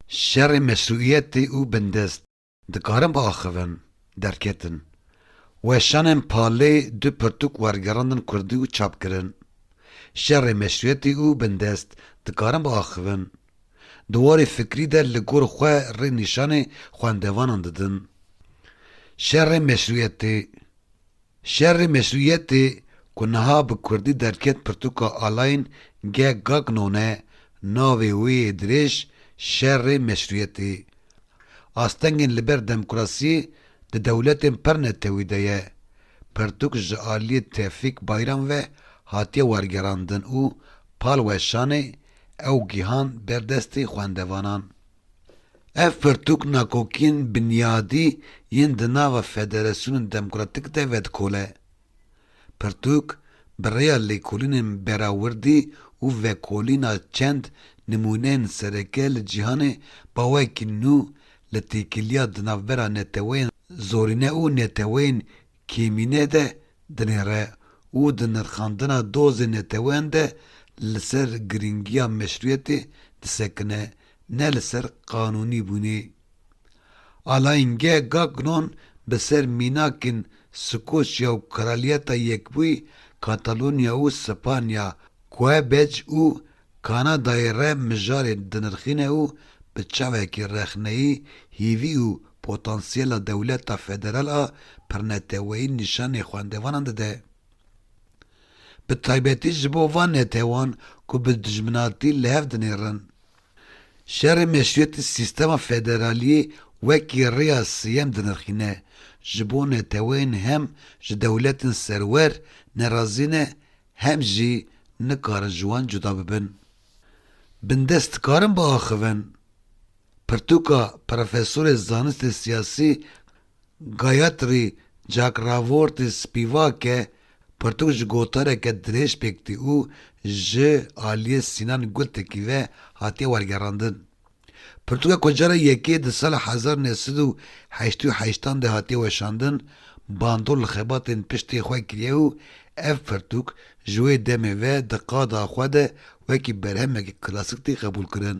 Şerê meşrûîyetê û bindest dikarin biaxivin, derketin. Weşanên Palê du pirtûk wergerandin kurdî û çap kirin. Şerê meşrûîyetê û bindest dikarin biaxivin. Di warê fikrî de li gor xwe rê nîşanê xwendevanan didin. Şerê meşrûîyetê. Şerê meşrûyetê ku niha bi kurdî derket pirtûka Alayên ge gak none navê wê yê dirêj şerê meşrûyetê. Astengên li ber demokrasiyê di dewletên pir netewî de ye. Pirtûk ji aliyê Tevfîk Bayram ve hatiye wergerandin û pal weşanê ew gihan ber destê xwendevanan. Ev pirtûk nakokiyên binyadî yên di nava federasyonên demokratîk de vedikole. Pirtûk bi rêya lêkolînên berawirdî û vekolîna çend nimûneyên sereke li cîhanê bawekî nû li têkiliya di navbera neteweyên zorîne û neteweyên Kêmînê de dinêre û di nirxandina dozên neteweyan de li ser girîngiya meşrûyetê disekine ne li ser qanûnîbûnê. Alayên ge Gagnon bi ser mînakên Skoçya û Kraliyeta Yekbûyî Katalonya û Spanya, Quebec û Kanadayê re mijarê dinirxîne û bi çavekî rexneyî hîvî û potansiyela dewleta federal a pirneteweyî nîşanê xwendevanan dide. Bi taybetî ji bo van netewan ku bi dijminatî li hev dinêrin. Şerê meşrûyetî sîstema federaliyê wekî rêya sêyem dinirxîne, ji bo neteweyên hem ji dewletên serwer nerazî ne Hem jî nikarin ji wan cuda bibin. Bindest dikarin biaxivin. Pirtûka Profesorê Zanistê Siyasî Gayatri Cakravorty Spivak e, pirtûk ji gotareke dirêj pêk tî û ji aliyê Sînan Gultekî ve hatiye wergerandin. Pirtûka ku cara yekê di sala hezar u neh sed û heştê û heşt an de hatiye weşandin, bandor li xebatên piştê xwe kiriye û ev pirtûk ji wê demê ve di qada xwe de wekî berhemekî klasik tê qebûlkirin.